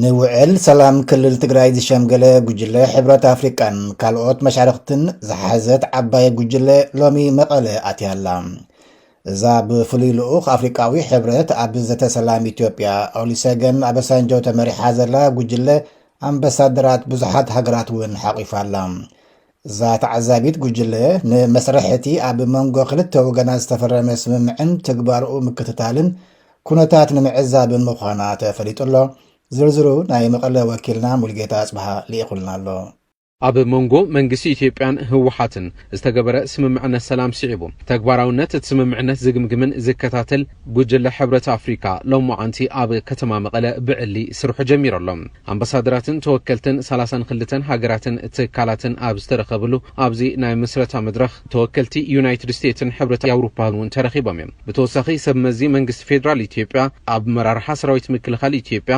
ንውዕል ሰላም ክልል ትግራይ ዝሸምገለ ጉጅለ ሕብረት ኣፍሪቃን ካልኦት መሻርኽትን ዝሓዘት ዓባይ ጉጅለ ሎሚ መቐለ ኣትያላ እዛ ብፍሉይ ልኡኽ ኣፍሪቃዊ ሕብረት ኣብ ዘተ ሰላም ኢትዮጵያ ኦሊሰገን ኣበሳንጆ ተመሪሓ ዘላ ጉጅለ ኣምባሳደራት ብዙሓት ሃገራት እውን ሓቚፋ ኣላ እዛ ተዓዛቢት ጉጅለ፣ ንመስርሕ እቲ ኣብ መንጎ ክልተ ወገናት ዝተፈረመ ስምምዕን ትግባረኡ ምክትታልን ኩነታት ንምዕዛብን ምዃና ተፈሊጡ ኣሎ። ዝርዝሩ ናይ መቐለ ወኪልና ሙልጌታ ኣጽብሃ ልኢኹልና ኣሎ። ኣብ መንጎ መንግስቲ ኢትዮጵያን ህወሓትን ዝተገበረ ስምምዕነት ሰላም ስዒቡ፣ ተግባራዊነት እቲ ስምምዕነት ዝግምግምን ዝከታተል፣ ጉጅለ ሕብረት ኣፍሪካ ሎምዓንቲ ኣብ ከተማ መቐለ ብዕሊ ስርሑ ጀሚሩ ኣሎ። ኣምባሳደራትን ተወከልትን ሰላሳን ክልተን ሃገራትን ትካላትን ኣብ ዝተረኸብሉ ኣብዚ ናይ ምስረታ መድረኽ ተወከልቲ ዩናይትድ ስቴትን ሕብረት ኣውሮፓን እውን ተረኺቦም እዮም። ብተወሳኺ ሰብ መዚ መንግስቲ ፌዴራል ኢትዮጵያ፣ ኣመራርሓ ሰራዊት ምክልኻል ኢትዮጵያ፣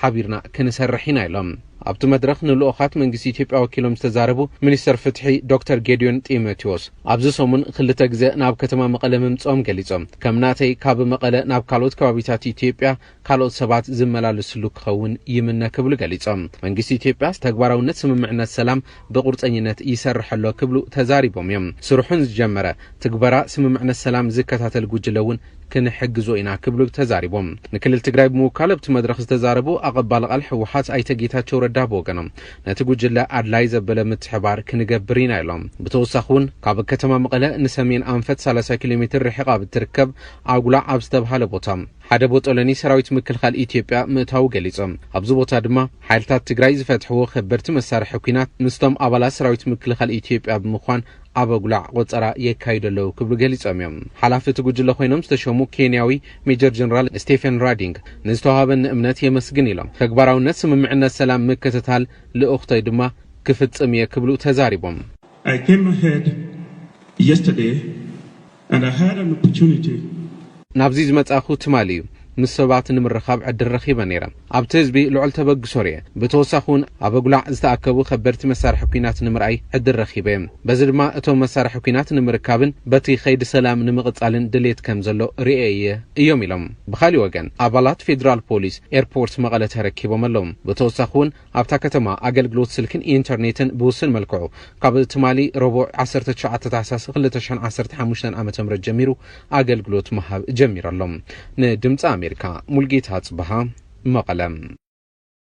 ሓቢርና ክንሰርሕ ኢና ኢሎም። ኣብቲ መድረኽ ንልኡኻት መንግስቲ ኢትዮጵያ ወኪሎም ዝተዛረቡ ሚኒስተር ፍትሒ ዶክተር ጌዲዮን ጢሞቴዎስ፣ ኣብዚ ሰሙን ክልተ ግዘ ናብ ከተማ መቐለ ምምፅኦም ገሊፆም። ከም ናተይ ካብ መቐለ ናብ ካልኦት ከባቢታት ኢትዮጵያ ካልኦት ሰባት ዝመላለስሉ ክኸውን ይምነ ክብሉ ገሊፆም። መንግስቲ ኢትዮጵያ ተግባራዊነት ስምምዕነት ሰላም ብቑርፀኝነት ይሰርሕ ኣሎ ክብሉ ተዛሪቦም እዮም። ስርሑ ንዝጀመረ ትግበራ ስምምዕነት ሰላም ዝከታተል ጉጅለ እውን ክንሕግዞ ኢና ክብሉ ተዛሪቦም። ንክልል ትግራይ ብምውካል ኣብቲ መድረኽ ዝተዛረቡ ኣቐባሊ ቃል ህወሓት ኣይተ ጌታቸው ረዳ ብወገኖም ነቲ ጉጅለ ኣድላይ ዘበለ ምትሕብባር ክንገብር ኢና ኢሎም። ብተወሳኺ እውን ካብ ከተማ መቐለ ንሰሜን ኣንፈት ሰላሳ ኪሎ ሜትር ርሒቓ ኣብ እትርከብ ኣጉላዕ ኣብ ዝተብሃለ ቦታ ሓደ ቦጦሎኒ ሰራዊት ምክልኻል ኢትዮጵያ ምእታዉ ገሊጾም። ኣብዚ ቦታ ድማ ሓይልታት ትግራይ ዝፈትሕዎ ከበድቲ መሳርሒ ኲናት ምስቶም ኣባላት ሰራዊት ምክልኻል ኢትዮጵያ ብምዃን ኣብ ኣጉላዕ ቆጸራ የካይዱ ኣለዉ ክብሉ ገሊጾም እዮም። ሓላፊ እቲ ጉጅለ ኮይኖም ዝተሸሙ ኬንያዊ ሜጀር ጀነራል ስቴፈን ራዲንግ ንዝተወሃበኒ እምነት የመስግን ኢሎም። ተግባራውነት ስምምዕነት ሰላም ምክትታል ልኡኽቶይ ድማ ክፍጽም እየ ክብሉ ተዛሪቦም። I came ahead yesterday ናብዚ ዝመጻእኩ ትማሊ እዩ። ምስ ሰባት ንምርኻብ ዕድል ረኺበ ነይረ። ኣብቲ ህዝቢ ልዑል ተበግሶ ርእየ። ብተወሳኺ እውን ኣብ ኣጉላዕ ዝተኣከቡ ከበድቲ መሳርሒ ኲናት ንምርኣይ ዕድል ረኺበ እየ። በዚ ድማ እቶም መሳርሒ ኲናት ንምርካብን በቲ ከይዲ ሰላም ንምቕጻልን ድልየት ከም ዘሎ ርእየ እየ እዮም ኢሎም። ብኻሊእ ወገን ኣባላት ፌዴራል ፖሊስ ኤርፖርት መቐለ ተረኪቦም ኣለዉ። ብተወሳኺ እውን ኣብታ ከተማ ኣገልግሎት ስልክን ኢንተርኔትን ብውሱን መልክዑ ካብ ትማሊ ረቡዕ ዓሰርተ ትሽዓተ ታሕሳስ ክልተ ሽሕን ዓሰርተ ሓሙሽተን ዓመተ ምህረት ጀሚሩ ኣገልግሎት ምሃብ ጀሚሩ ኣሎ። ንድምጺ ኣሜሪካ ሙልጌታ ኣጽብሃ መቐለ።